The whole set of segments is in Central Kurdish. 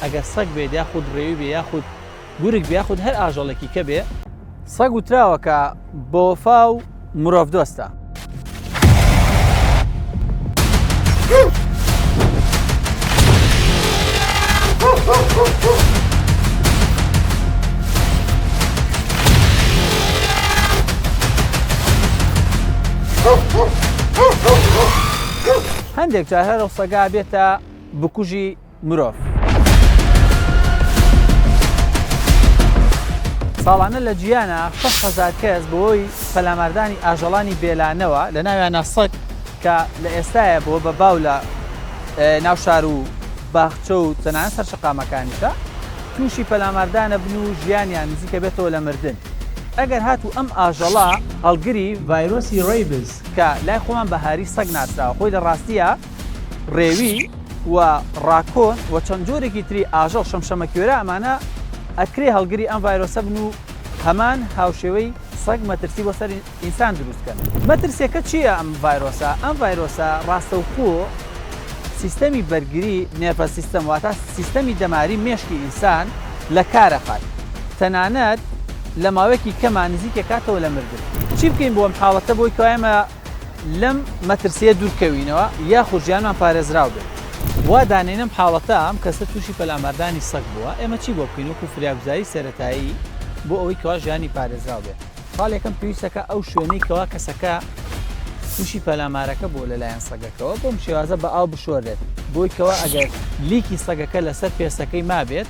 ئەگەر سەگ بێت یاخود ڕێوی بێ یاخود گورگ بێ یاخود هەر ئاژەڵێکی کە بێ سەگ وتراوە کە بۆفا و مرۆڤ دۆستە هەندێک جار هەرە سەگا بێتە بکوژی مرۆڤ. ساڵانە لە جیانا شەش هەزار کەس بەوەی پەلاماردانی ئاژەڵانی بێلانەوە لە ناویانە سەگ کە لە ئێستاە بۆ بە باو لە ناو شار و باخچە و تەنان سەرشقامەکانیشە تووشی پەلاماردانە بن و ژیانیان نزیکە بێتەوە لە مردن ئەگەر هات و ئەم ئاژەڵە هەڵگری ڤایرۆسی ڕیبز کە لای خۆمان بە هاری سەگ ناسراوە خۆی لە ڕاستیە ڕێوی و ڕاکۆن و چەند جۆرێکی تری ئاژەڵ شەمشەمەکوێرە ئەمانە ئەکرێ هەڵگری ئەم ڤایرۆسە بن و هەمان هاوشێوەی سەگ مەترسی بۆ سەر ئینسان دروستکەن مەترسیەکە چییە ئەم ڤایرۆسە ئەم ڤایرۆسە ڕاستەوخۆ سیستەمی بەرگری نێپە سیستەم واتە سیستەمی دەماری مێشکی ئینسان لە کارەخات تەنانەت لە ماوەیەکی کەمان نزیکە کاتەوە لە مردن چی بکەین بۆم حاڵەتە بۆی کایمە لەم مەترسییە دوورکەوینەوە یاخود ژیانمان پارێزراو بێت. وا دانێنم حاڵەتە ئەم کەسە تووشی پەلاماردانی سەگ بووە، ئێمە چی بۆ بکەین وەکو فریاگوزاری سەرەتایی بۆ ئەوەی کەوا ژیانی پارێزراو بێت؟ خاڵ یەکەم، پێویستە کە ئەو شوێنەی کەوا کەسەکە تووشی پەلامارەکە بووە لەلایەن سەگەکەوە بەم شێوازە بە ئاو بشۆرێت، بۆی کەوا ئەگەر لیکی سەگەکە لەسەر پێستەکەی مابێت،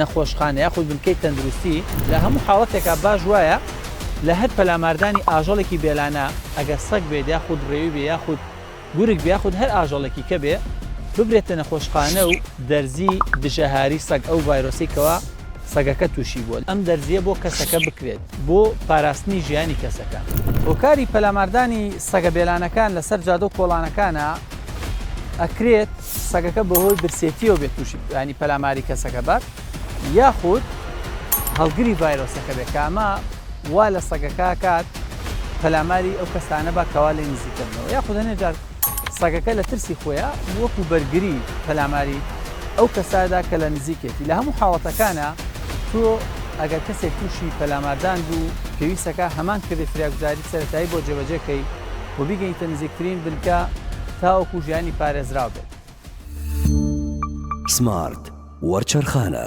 نەخۆشخانە یاخود بنکەی تەندروستی، لە هەموو حاڵەتێکا باش وایە لە هەر پەلاماردانی ئاژەڵێکی بێلانە، ئەگەر سەگ بێت یاخود رێوی بێ یاخود گورگ بێ یاخود هەر ئاژەڵێکی کە بێ، ببرێتە نەخۆشخانە و دەرزی دژە هاری سەگ ئەو ڤایرۆسەی کەوا سەگەکە تووشی بووە، ئەم دەرزییە بۆ کەسەکە بکرێت بۆ پاراستنی ژیانی کەسەکە. هۆکاری پەلاماردانی سەگە بێلانەکان لەسەر جادە و کۆڵانەکانا ئەکرێت. سەگەکە بەهۆی برسێتییەوە بێت تووشی یانی پەلاماری کەسەکە بات یاخود هەڵگری ڤایرۆسەکە بێت کە ئەمە وا لە سەگەکە کات پەلاماری ئەو کەسانە بە کەوا لێ نزیکردنەوە یاخود هەنێ جار سەگەکە لە ترسی خۆیان وەکو بەرگری پەلاماری ئەو کەسادا کە لە نزیکێتی لە هەموو حاڵەتەکانە تۆ ئەگەر کەسێک تووشی پەلاماردان بوو پێویستەکە هەمان کردی فراگوزاری سەتایی بۆ جێبەجێکەی و بیگەیتە نزیکترین بنکە تاوەکو ژیانی پارێزراو بێت. سمارت وەرچەرخانە.